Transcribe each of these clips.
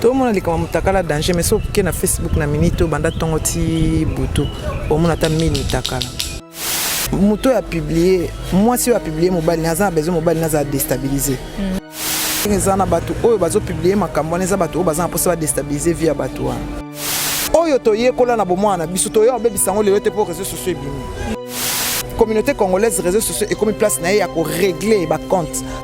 tomona likambo mutakala danger mais soki oke na facebook na minute obanda ntongo ti butu omona ata 1000 mutakala moto oyo apiblie mwasi oyo apiblie mobali naza na besoin mobali naza destabilise mm. eza na bato oyo bazopiblie makambo wana eza bato oyo baza na mposa badestabilise vie ya bato wana oyo toyekola na bomwana na biso toya kobebisa yango lelo te mpo réseau sociaux ebimi communauté congolaise réseau sociaux ekomi place na ye ya koregle bacompte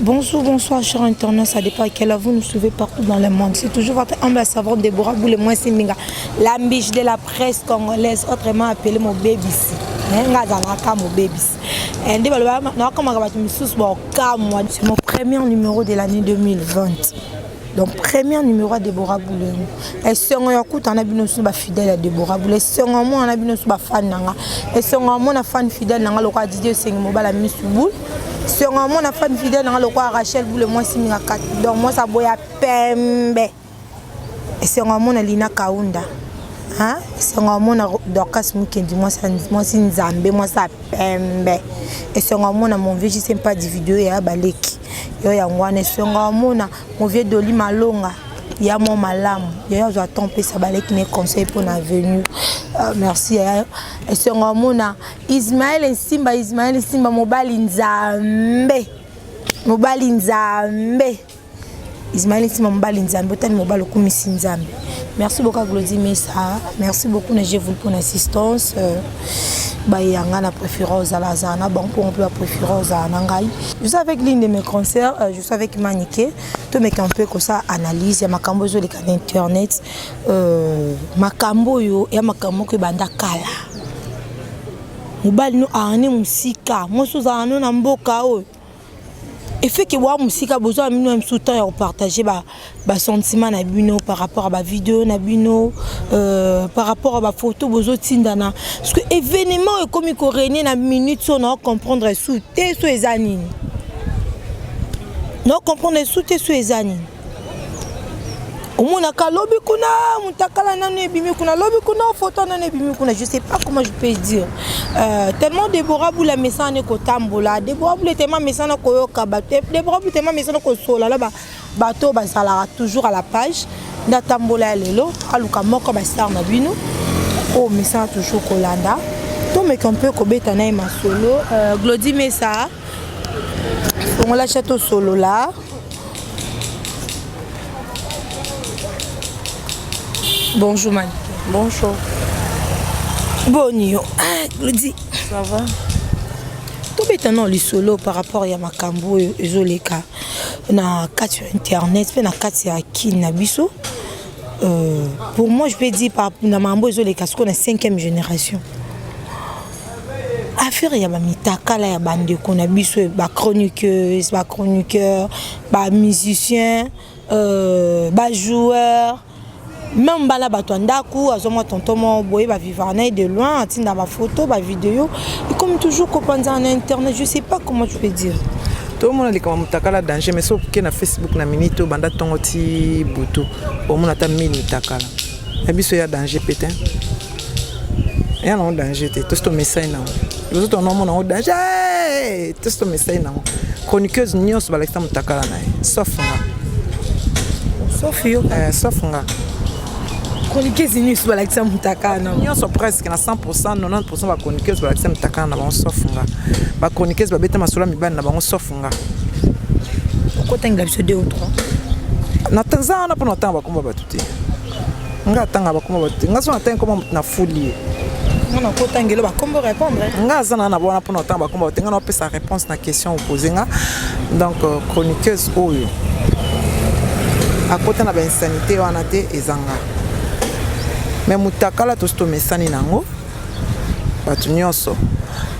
Bonjour, bonsoir, cher internaute, ça dépend à quelle heure vous nous suivez partout dans le monde. C'est toujours votre humble savante Déborah Boule, moi c'est Minga, la biche de la presse congolaise, autrement appelée mon baby. Nga zalaka mon baby. Eh, nde baloba nakamaka bato mosusu baokamwa c'est mon premier numéro de l'année 2020 donc premier numéro ya débora bulengo esengo ya kuta na bino nyonso bafidèle ya débora bule esengo amona na bino nyonso bafane na nga esengo amona fane fidèle na nga lokola didie esengi mobala misu bule Songa mona fan fidèle nanga lokola Rachel Boule mwasi minga kati donc mwasi aboya pembe esengo amona Lina Kaunda hein esengo amona Dorcas Mukendi mwasi mwasi nzambe mwasi ya pembe esengo amona mon vieux Jisem pas du vidéo ya baleki yo yango wana esengo amona mon vieux Doli Malonga ya mwa malamu yayo azwa temps mpesa baleki ne conseil mpo na avenue euh, merci yayo esengo amona Ismaël Nsimba, Ismaël Nsimba, mobali nzambe, mobali nzambe. Ismaël Nsimba, mobali nzambe, otani mobali okumisi nzambe. Merci beaucoup à Glody Mesa, merci beaucoup na Jevul pour l'assistance. Euh, bayanga na préféré ozala azala na bango mpo mpe bapréféré ozala na ngai je suis avec l'une de mes concerts euh, je suis avec manike tomeka mpe kosa analyse ya makambo ezoleka na internet euh, makambo oyo ya makambo moko ebanda kala mobali no arne mosika mwasi ozala no na mboka oyo efeke boa mosika bozwa bino biso temps ya kopartage basentiment na bino par rapport ya bavideo na bino euh, par rapport ya bafoto bozotindana parce que événement oyo ekomi koregne na minute so na ocomprendre su te so eza nini na ocomprendre su te so eza nini omonaka lobi kuna mutakala nanu ebimi kuna lobi kuna foto nanu ebimi kuna je sais pas comment je peux dire euh, tellement debora bula amesana ne kotambola debora bula tellement amesana koyoka bato debora bula tellement amesana kosola na bato bazalaka toujours à la page nde atambola ya lelo aluka moko bastar na bino oyo oh, omesana toujours kolanda tomeka mpe kobeta na ye masolo euh, glodi mesa fongola chateau solola Bonjour Mani. Bonjour. Boni yo. Ah, Claudie. Ça va? tobeta nao lisolo par rapport ya makambo oyo ezoleka na kati ya internet mpe na kati ya kine na biso Euh, pour moi, je peux dire, par, dans ma mbo, les casques, on est cinquième génération. affaire ya bamitakala ya bandeko na biso bachroniqueuse bachroniqueur bamusicien euh, bajoueur meme bana bato ya ndako azwa mwa tonton moko boye bavivaka na ye de loin atinda bafoto bavideo ekomi toujours kopanzana na internet je sais pas comment je peux dire tomona likambo mutakala danger mais soki oke na facebook na minute oyo banda ntongo ti butu omona ata 1000 mutakala na biso ya danger mpe te ya nango danger te tosi tomesai nango liboso tona omona yango danger eh! tosi tomesai nango chroniqueuse nyonso balakisa mutakala na ye sauf nga sauf yo eh, sauf nga chroniqueuse nyonso balakisa mutakana nyonso presque na 100 90 bachroniqueuse balakisa mitakana na bango sauf nga bachroniqueuse babeta masolo ya mibali na bango sauf nga okotangela biso 2 ou 3 naza wana mpo natanga bakoma bato te nga atanga bakoma bato te nga so natangi koma moto na fuli ye nga aza na na wana mpo natanga bakoma bato te nga naopesa réponse na Question opose nga donc euh, chroniqueuse oyo akota na bainsanité wana te ezanga me mutakala tosi tomesani nango bato nyonso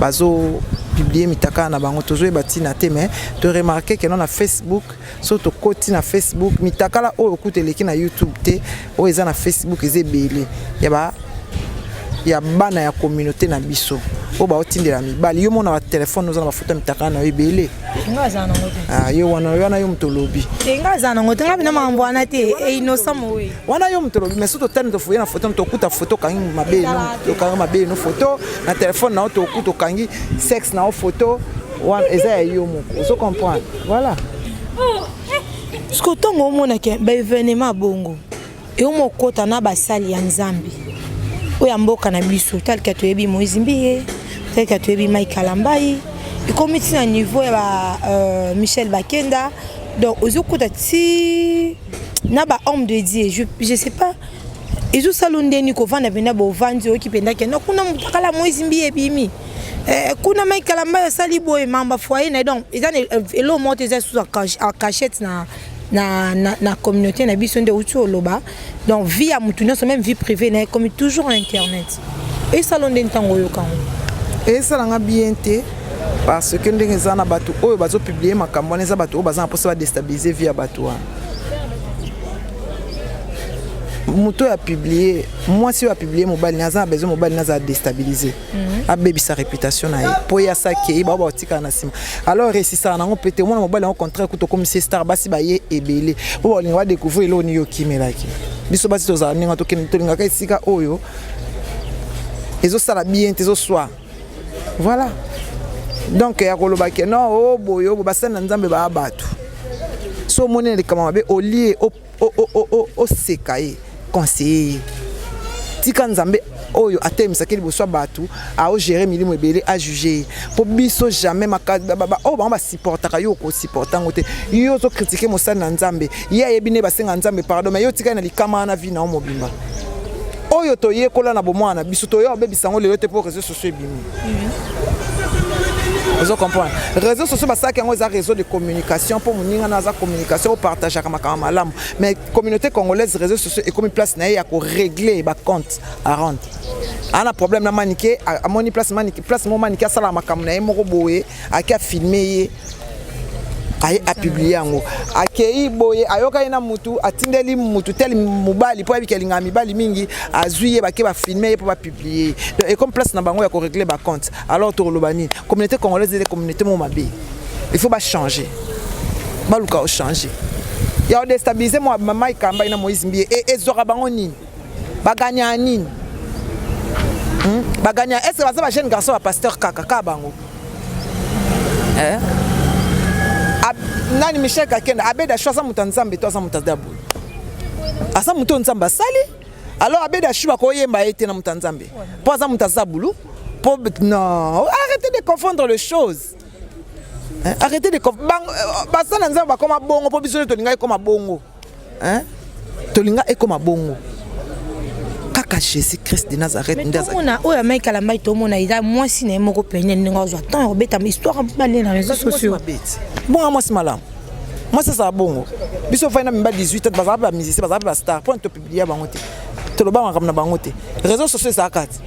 bazo publie mitakala na bango tozoyeba ntina te me toremarke keno na facebook so tokoti na facebook mitakala oyo kutu eleki na youtube te oyo eza na facebook eza ebele ya ba ya bana ya communauté na biso oyo baotindela mibali yo mona batelefone oza na bafoto ya mitakala na yo ebele ah, yo wana wana yo moto olobi wana yo moto olobi mais so totani tofoye na foto tokuta foto okangi mabe okangi mabe no foto na telefone na yo tokuta okangi sexe na yo foto wana eza ya yo moko ozo comprendre voilà siko ntongo omonake baevenema bongo eoma okota na basali ya nzambe oyo ya mboka na biso talika toyebi moise mbiye talika toyebi mai kalambai ekomi ti na niveau ya ba euh, michel bakenda donc ozokuta ti na ba homme de dieu je, je sais pas ezosala ndeni kovanda mpenza bovandi oyoki mpenza kenda kuna motakala moise mbiye ebimi Eh, kuna mai kalamba asali boye mamba foyer na donc eza elo moto eza sous en cachette na na, na, na communauté na biso nde outi oloba donc vie ya motu nyonso même vie privée na ye comme toujours na internet esala nde ntango oyoka yango esalanga bien te parce que ndenge eza na bato oyo bazopublie makambo wana eza bato oyo baza na mposa badestabilize vie ya bato wana moto oyo apublie mwasi oyo apublie mobali naye aza na besoin mobali naye aza destabilize mhm. abebisa réputation na ye mpo ye asakei bao baotikala na nsima alors resisaka nango mpe te omona mobali yango contraire kutu okomisi star basi baye ebele mpo baolinga badecouvrir eloko nini okimelaki biso basi tozala ndenge tokende tolingaka esika oyo ezosala bien te ezoswa voilà donc ya koloba ke no o oh, boye obo oh, basali na nzambe baa bato so omoni na likambo mabe olie Oh oh oh oh oh seka ye conseiller ye tika nzambe oyo atelemesaki liboso ya bato aogere milimo ebele ajuge ye mpo biso jamais oyo bango basupportaka yo okosupporta yango te yo ozokritike mosali na nzambe ye ayebi nde basenga nzambe pardon mai yo otikali na likama wana vi na yo mobimba oyo toyekola na bomwana na biso toya obebisa yango lelo te mpo réseau so ebimi ozo comprendre réseau sociaux basalaki yango eza réseau de communication mpo moninga na aza communication opartageaka makambo malamu mais communauté congolaise réseau sociaux ekomi place na ye ya korégler bacompte arond ana problème na manike amoni place manike place mo manike asalaka makambo na ye moko boye ake afilme ye aye apiblie yango akei boye ayokani na mutu atindeli mutu tel mobali mpo ayebiki alingaka mibali mingi azwi ye bake bafilme ye mpo bapiblie ye donc ecomme place na bango ya koregle bacompte alors tokoloba nini communauté congolaise ete communauté moko mabe il faut bachange baluka ochange ya odestabilize mwa mamai kambai na moise mbiye ezwaka bango nini baganya nini hmm? baganya est ce que baza ba jeune garçon ya pasteur kaka kaka bango eh? nani michel kakenda abeda shu aza moto ya nzambe to aza moto ya dabulu aza moto oyo nzambe asali alors abeda shu bakoyemba ye te na moto ya nzambe mpo aza moto ya zabulu mpo non arrêtez de confondre les choses arrêtez de euh, baza na nzambe bakoma bongo mpo biso nde tolingaki koma bongo Hein? Tolinga ekoma bongo. Kaka Jésus Christ de Nazareth nde aza. Mona oyo amai kala mbai to mona eza mwasi na ye moko pene ndenge azwa temps ya kobeta histoire ba na réseaux sociaux. Bon mwasi malamu. Mwasi azala bongo. Biso fai na mimba 18 ans bazala ba musicien bazala ba star point to publier bango te. Toloba makambo na bango te. Réseaux sociaux ezala kati.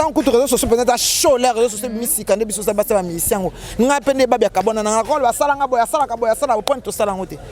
ntango kutu réseau sociaux mpenza eza show le réseau sociaux ebimisika nde biso oza basi ya bamisisi yango ngai mpe nde ebabi ya kabwana na ngai lokola basala ngai boye asalaka boye asala boye mpo tosala yango te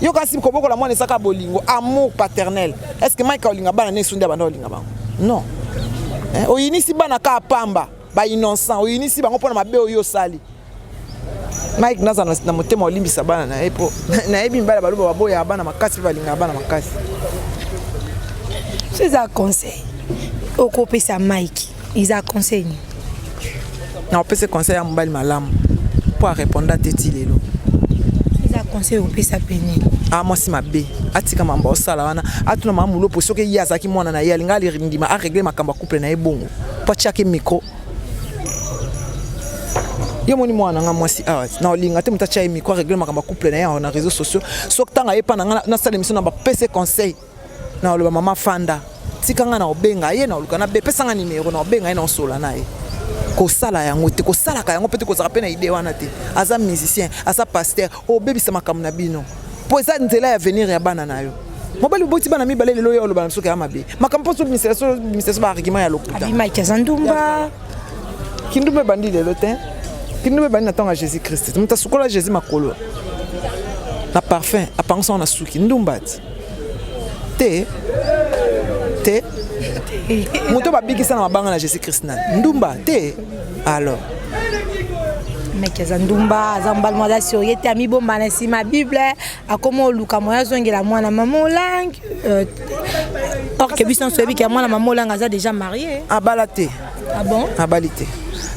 yo kasi kobokola mwana esaka bolingo amour paternel est ce que mike olinga bana ne esundi abanda olinga bango non eh, oyinisi bana kaka pamba bainnocent oyinisi bango mpona mabe oyo osali mike naza na motema olimbisa bana na ye mpo nayebi mibali baloba baboyaa bana makasi mpe balingaka bana makasi so eza conseil okopesa mike Iza conseil nini? Na opese conseil ya mobali malamu mpo areponda te ti lelo. Iza conseil opesa mpe nini? Ah, mwasi mabe atika mambo osala wana atuna mama mulopo soki ye azalaki mwana na ye alinga alirindima aregle makambo ya couple na ye bongo mpo atiaki micro yo moni mwana nga mwasi awa na olinga te moto atya ye micro aregle makambo ya couple na ye awa na réseau sociaux soki ntango ayepa na ngai nasala émission na bapese conseil Na oloba mama fanda tika nga na obenga ye na oluka na be pesa nga numero na obenga ye na osola na ye kosala yango te kosalaka yango mpe te kozala mpe na idee wana te aza musicien aza pasteur obebisa makambo na bino mpo eza nzela ya venir ya bana na yo mobali oboti bana mibale lelo yo oloba na biso kaya mabe makambo mpo sobimisa so baargument ya lokuta abimaki aza ndumba kindumba ebandi lelo te kindumba ebandi na ntango ya jésus christ moto asukola jésus makolo na parfum apangisa ngo na suki ndumba ti te te moto babikisa na mabanga na jésus christ na ndumba te alors meke aza ndumba aza mobali moko aza sorie te amibomba na nsima bible akoma oluka moya azongela mwana mama olangi euh, orke biso nyonso oyebi ke mwana mama olangi aza déjà marie abala te ah bon abali te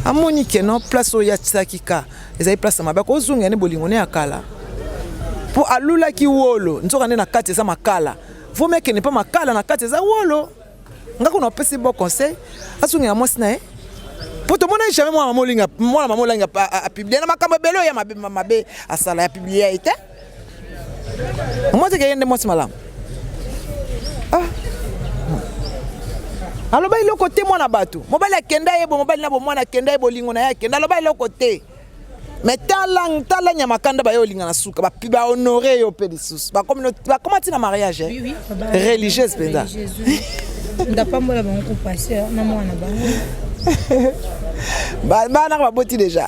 amoni ke non place oyo atisaki ka ezali place ya mabe akozongela nde bolingo ne ya kala mpo alulaki wolo nzoka nde na kati eza makala vomi akende mpo makala na kati eza wolo nga kuna opesi bo conseil azongela mwasi na ye mpo tomona jamais mwana mama olinga mwana mama olangi apiblie na makambo ebele oyo ya mabe asala ya piblie ye te Mwasi ke yende mwasi malamu. Ah. Aloba eloko te mwana bato. Mobali akenda ye bo mobali na bo mwana akenda ye bolingo na ye akenda aloba eloko te. Mais tala tala nyama kanda ba yo linga na suka ba ba honorer yo pe lisusu. Ba comme ba comment tina mariage? Oui oui. Religieuse penza. Ndapambola bango ko passer na mwana bango. Ba ba na ba boti déjà.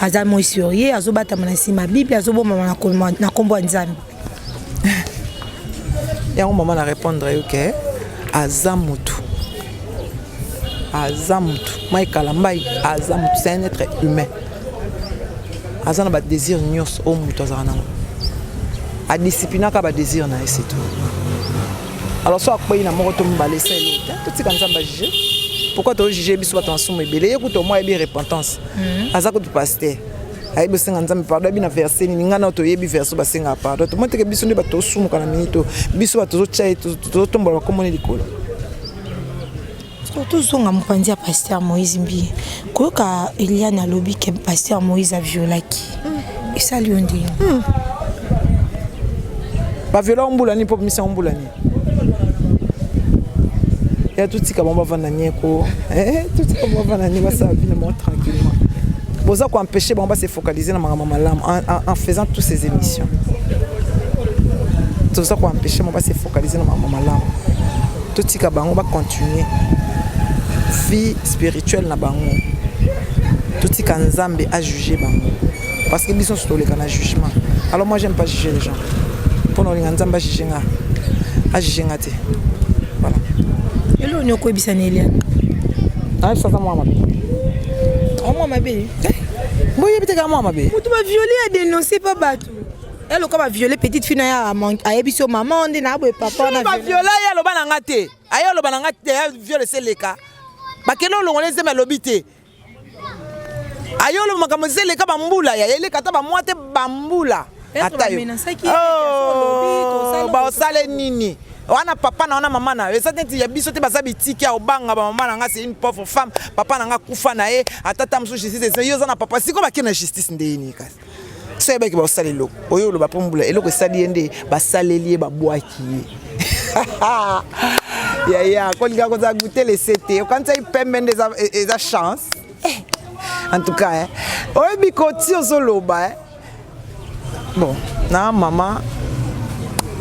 aza moi sur ye azobatama na nsima bible azobomama na nkombo ya nzambe yango mama na répondre yo ke aza motu aza motu mai kalambai aza motu c'est un être humain aza na badésir nyonso oyo motu azala nango adisciplinaka badésir na ye setu alors so akwei na moko to mibale esali totika nzambe ajuge pourquoi tojuge biso bato masumu ebele ye kutu omwa yebi repentance hmm. aza kutu pasteur ayebi osenga nzambe pardon ayebi na verse nini ngai nao toyebi verse basengaka pardon tomoni teke biso nde bato tosumuka na minito biso bato tozotya ye tozotombola bakomoni likolo tozonga mopanzi ya paster moïse mbi koyoka eliane alobi ke paster moïse aviolaki hmm. esali yo ndenge hmm. baviola ombula nini mpo bimisa ombula nini ya totika bango bavanda nieko eh, totika bango bavanda nieko basala bino bango tranquillement boza koempêche bango base focaliser na makambo malamu en faisant tous ces émissions toza koempêche bango base focaliser na makambo malamu totika bango bacontinue vie spirituelle na bango totika nzambe ajuge bango parce que biso nso toleka na jugement alors moi j'aime pas juger les gens mpo na olinga nzambe ajuge nga ajuge nga te voilà eloo ni okoyebisa na eliane ayebisa aza mwa mabe mwa mabe boyebi te kaka mwa mabe moto baviole ya denonce mpa bato eloka baviole petite fille na ye ayebisi yo mama nde na boye papa na baviola ye aloba na nga te aye aloba na nga te ya viole seleka bakende olongola ezembe alobi te ayolo makambo eza eleka bambula ya eleka ata bamwa te bambula ata yo oh, baosale nini wana papa na wana mama na yo eza neti ya biso te baza bitiki ya obanga bamama na nga c'est une pauvre femme papa na nga kufa na ye ata ta mosusu justice yo oza na papa sikoyo bakende na justice ndeyini kasi so ayebaki bakosala eloko oyo oloba mpo mbula eloko esali ye nde basaleli ye babwaki ye yaya kolinga kozala gute lese te okanisaki pembe nde eza chance eh, en tout cas eh. oyebi koti ozoloba eh. bon na mama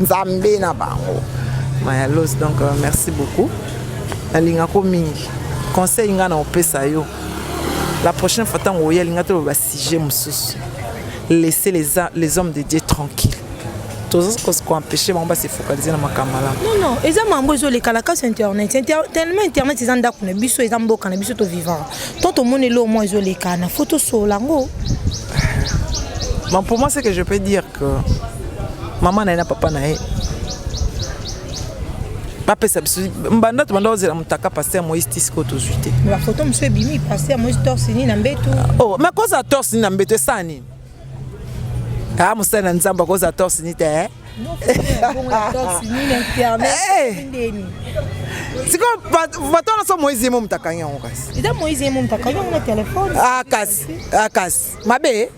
nzambe na bango mayalos donc euh, merci beaucoup nalingako mingi conseil ngai na opesa yo la prochaine fois ntango oya linga toloba sujet mosusu laisser les, les hommes de dieu tranquille toza koempêche bango base focalise na makambo malamu nono eza mambo ezolekala kasi internet tellement internet eza ndako na biso eza mboka na biso tovivant tant tomoni eloo mwa ezolekana fo tosola yango Bon, pour moi, ce que je peux dire, mama na ye na papa na ye bapesa biso mbanda tobanda kozela motaka paster moïse tisiko tozwi te bafoto mosusu ebimi paster moïse torsini na mbetu ah, oh, makozala torsini na mbetu esala nini a ah, mosali na nzambe akozala torsini te eh? sikoyo bato wana so moïse yemo moto akangi yango kasi eza moïse yemo moto akangi yango na telefone akasi ah, akasi mabe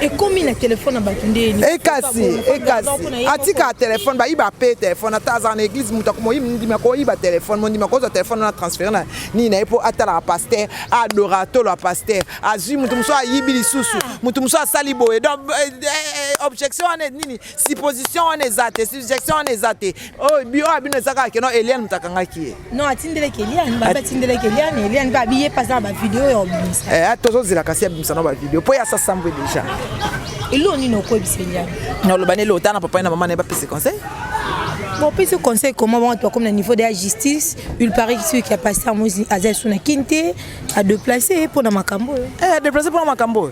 ekomi na telefone na bato nde ekasi eh, ekasi eh, atika telefone bayiba mpe telefone ata azala na eglise moto akomondima koyiba telefone mondima kozwa telefone wana transfere na nini na ye mpo atalaka paster adora tolo ya paster azwi moto mosusu ayibi lisusu ah. moto mosusu asali boye donc eh, objection wana nini supposition wana eza te subjection wana eza te oyo bio ya bino eza kaka keno eliane moto akangaki ye non atindeleki eliane babi atindeleki eliane eliane babi ye mpasa na bavideo ya obimisa eh, tozozela kasi abimisa na bavideo mpo ye asasambwe deja elo nini okoyebisa eliane oloba nele ota na papa na mama na ye bapesi conseil Bon, puis ce conseil, comment on doit comme le niveau de la justice, il paraît que celui qui a passé à Moïse Azel Souna Kinte a déplacé pour la Macambo. Eh, déplacé pour la Macambo.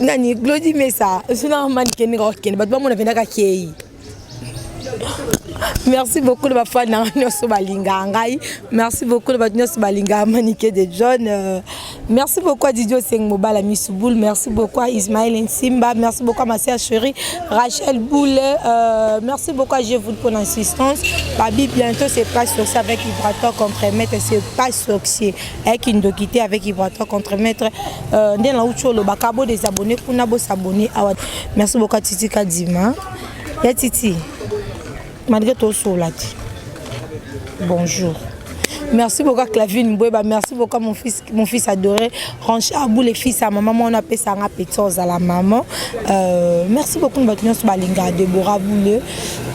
nani glodi mesa suna mani kende kaka kende bato bamona mpenza kakei merci beaucoup na bafani nanga nyonso balingaka ngai merci beaucoup na bato nyonso balingaka manike de john euh, merci beaucoup a didi oseng mobala misu boule merci beaucoup a ismael nsimba merci beaucoup a masia cheri rachel boule euh, merci beaucoup a jevoul pour l'insistance babi bientôt c'est pas sorcier avec hydrator contre maître c'est pas sorcier Eh, kindoki te avec ivoitoire contre maître euh, nde nauti olobaka bo desabonne kuna bosabonne awa merci beaucoup ya titi kadima ya titi malgré tosola te bonjour Merci beaucoup à Clavine Mboueba, merci beaucoup à mon fils, mon fils adoré, Ranch Abou, les fils à ma maman, on appelle ça un appétence à la maman. Euh, merci beaucoup à notre balinga, Deborah Bouleux,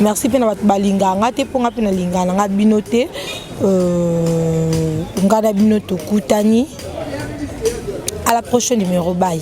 merci pour notre balinga, on a pour notre balinga, on a binoté. Euh, ngai na bino tokutani à la prochaine numéro bye